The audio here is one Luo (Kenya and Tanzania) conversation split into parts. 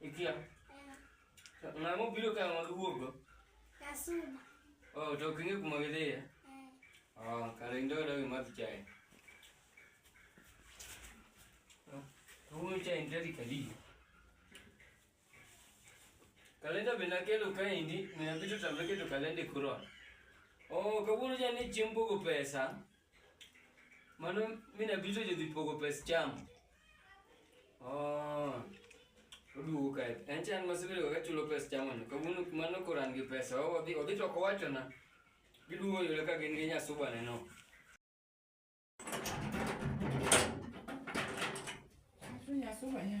Ikia. Na mo bilo ka ma luogo. Kasuma. Oh, to kinge kuma gidhiye. Oh, kare ndo ndo gi madhi chai. Huyu chai ndadi kali. Kalenda bina kelo kaindi, mina bitu tambeke to kalende kurona. Oh, kawuono jani chiembo go pesa. Mano mine bito jodhi pogo pes cham. Oh. Oduogo kae. En chan masebedo ka chulo pes chamo ni. Kawuono mano koran gi pesa. Odhi odhi to owacho na. Giduogo yule ka gin gi nyasuba neno. Nyasuba ya.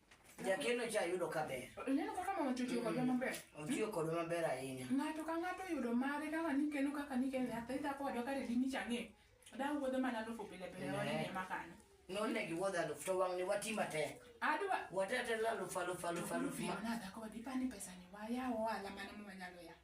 Jakeno cha yudo ka ber. Ineno kaka mama Chuchu mm. kodwa maber? Otiyo mm. kodwa maber ahinya. Ng'ato ka ng'ato oyudo mare kaka nikeno kaka nikeno nyathi dhako wadwa kare dini chang'e. Daa wuodho mana alufu pile pile eh. wane ema kanyo. Nonne gi wuodho alufu to wang'ni wati matek. Adwa. Watetela alufu alufu alufu alufu. Mana dhako wadipani pesa ni wayawo ohala mane mwanyalo yawo.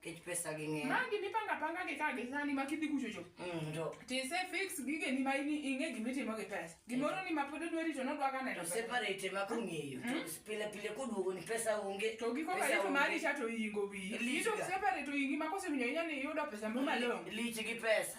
Kech pesa gi ng'eny. Magi mipanga panga gi ka gi sani ma kidhi kucho cho. Mm, to. Ti se fix gige ni ma ini inge gimi timo gi pesa. Gimoro ni ma pod odwari to nodwa ka neno. To separate ma kong'eyo. To mm. pile pile koduogo ni pesa onge. To gi koka ito mari cha to ingo wi. Ito separate to ingi ma kose winyo inya ni yudo pesa mo malong. Lich gi pesa.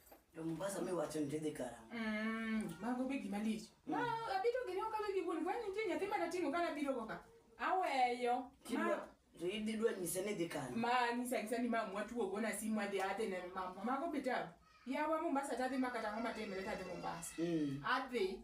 To Mombasa mi wacho ni tidhi karang'o? Mm, mago be gima lich. Ma abito gini ok abiro gibuni kwani nitie nyathi mana ting'o kana biro go ka. Aweyo. Kidwa to idhi dwa nyise ni dhi kanye? Ma nyisa nyisa ni mamu watuo gona simu adhi adhi ne mamu. Mago be tabu. Yawa Mombasa tadhi makata ngoma temre tadhi Mombasa. Mm. Adhi.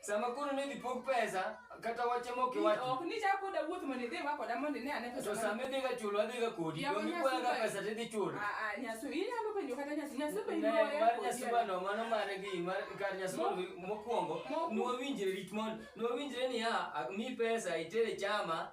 Sama koro ne dhi pog pesa kata wache mok iwach. Ok ni cha koda wuoth mondo idhi wa koda mondo ine ane pesa. To sama idhi ga chulo adhi ga kodi. Yawa Donge kwaya ga pesa to idhi chulo. Ah ah nyasu inyalo penjo kata nyasu nyasu be Ne iboya. mar nyasu bano mano mare gi mar kar nyasu Mo- bano mokwongo Mo- nwawinjre rit mon nwawinjre ni ha mi pesa itere chama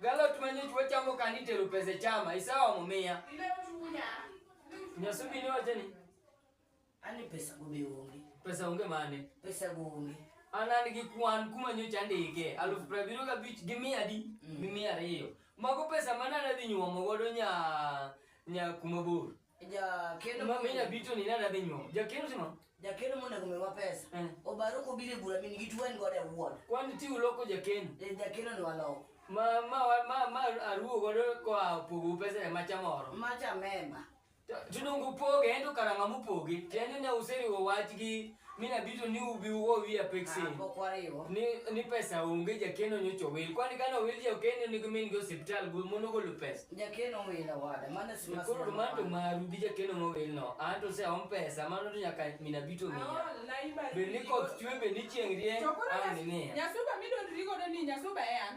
Galot manyoch wachamo kani tero pesa e chama, isawa mumiya. Nyasubi ni wacho ni Ani pesa go be onge. pesa onge mane. Pesa go onge. An an gi kwan kuma nyocha andike aluf piero abiriyo gabich gi mia adi gi mia ariyo. Mago pesa mane adhi nyuomo godo nya nya kuma bor. Jakeno Ma menya bito ni nada be nyuom. Jakeno timo. Jakeno monego miwa pesa. Eh. Obaro kobire bura min gitu en godo awuon. Kwani ti uloko jakeno. Eh, jakeno ni waloko. Ma ma wa- ma ma aruo godo kwa pogo pesa e macha moro. Macha mema. Tunungu poge ento karanga mupoge. Tiende ne useri wach gi mi nabito ni ubi ugo wiya peksen Ah, pok wariwo. ni, ni pesa onge jakeno nyocha owil kwani kane owil jakeno ni gimin gi osiptal gu- mondo ogolo pesa Jakeno wila wada, mano si mas- koro manto maru gi jakeno mowil no an to se om pesa mano to nyaka minabito miya Aol, na iba- bed ni koth chwe bed ni chieng' rieny Chokora ang' Nyas- nimiya Nyasuba midondri godo ni Nyasuba e an.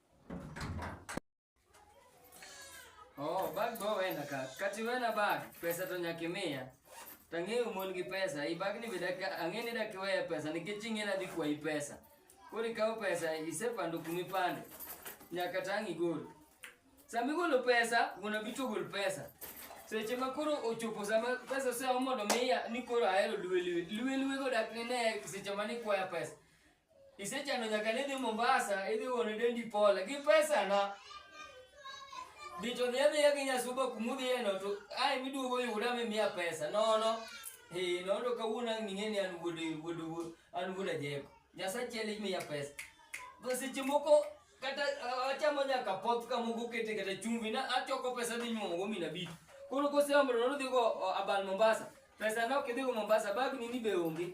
Oh, bag go wena ka. Kati wena bag, pesa to nyakimia. Tangi umon gi pesa, i bag ni bidaka angeni da kiwe pesa, ni kichingi na dikwa i pesa. Kuri kao pesa, ise pando kumi pande. Nyaka tangi gol. Sami golo pesa, guna bitu gol pesa. Seche ma koro ochopo sama pesa ose omodo miya ni koro ahero luwe luwe. Luwe luwe go dak ni ne seche ma ni kwaya pesa. Isechano nyaka ni dhi Mombasa idhi one dendi pole gi pesa na bito dhi adhiya gi nyasuba kumudhiyeno to ae miduogo yuda mimiya pesa nono eh, nono kawuono ang' ning'e ni an wuod wuod wuod- an wuod ajeko nyasaye achiel imiya pesa Be seche moko kata ah, achamo nyaka poth kamoko kete kata chumvi na achoko pesa dhi nyuomogo mina bito koro koseomro nodhigo abal mombasa pesa na ok idhigo mombasa bag nini be onge